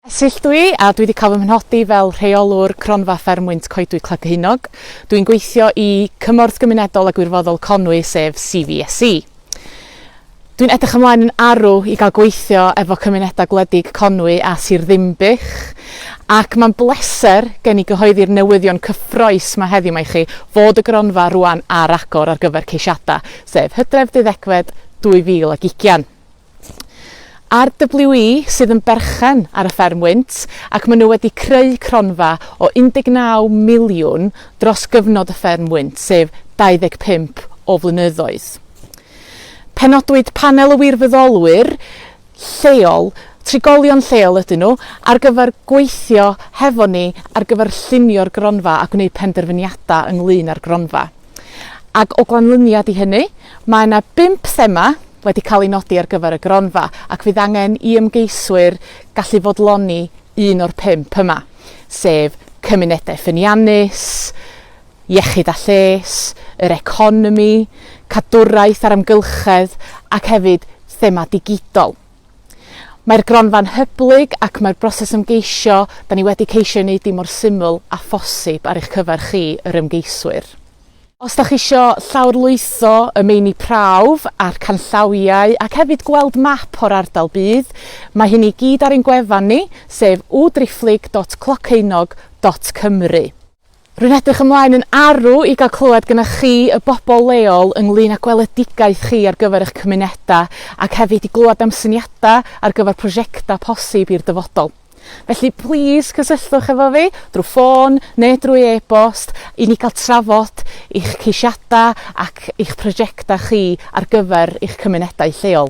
Es ill dwi a dwi 'di cael fy mhenodi fel Rheolwr Cronfa Fferm Wynt Coedwig Cleddhinog. Dw i'n gweithio i Cymorth Gymunedol a Gwirfoddol Conwy sef CVSE. Dw i'n edrych ymlaen yn arw i gael gweithio efo cymunedau gwledig Conwy a Sir Ddinbych ac mae'n bleser gen i gyhoeddi'r newyddion cyffroes 'ma heddiw 'ma i chi fod y gronfa rŵan ar agor ar gyfer ceisiadau, sef Hydref, Deuddegfed 2020. Ar WE sydd yn berchen ar y fferm wynt ac maen nhw wedi creu cronfa o 19 miliwn dros gyfnod y fferm wynt, sef 25 o flynyddoedd. Penodwyd panel o wirfoddolwyr lleol, trigolion lleol ydyn nhw, ar gyfer gweithio hefo ni ar gyfer llunio'r gronfa a gwneud penderfyniadau ynglŷn â'r gronfa. Ac o ganlyniad i hynny, mae yna bump thema wedi cael eu nodi ar gyfer y gronfa, ac fydd angen i ymgeiswyr gallu fodloni un o'r pump yma, sef cymunedau ffyniannus, iechyd a lles, yr economi, cadwraeth a'r amgylchedd, ac hefyd thema digidol. Mae'r gronfa'n hyblyg ac mae'r broses ymgeisio, da ni wedi ceisio ei wneud hi mor syml â phosib ar eich cyfer chi, yr ymgeiswyr. Os da chi isio llawrlwytho y meini prawf a'r canllawiau ac hefyd gweld map o'r ardal bydd, mae hyn i gyd ar ein gwefan ni, sef www.driphlyg.cloceunog.cymru. Rwy'n edrych ymlaen yn arw i gael clywed gyda chi, y bobl leol, ynglŷn â gweledigaeth chi ar gyfer eich cymunedau ac hefyd i glywed am syniadau ar gyfer prosiectau posib i'r dyfodol. Felly, plis cysylltwch efo fi drwy ffôn neu drwy e-bost i ni gael trafod eich ceisiadau ac eich prosiectau chi ar gyfer eich cymunedau lleol.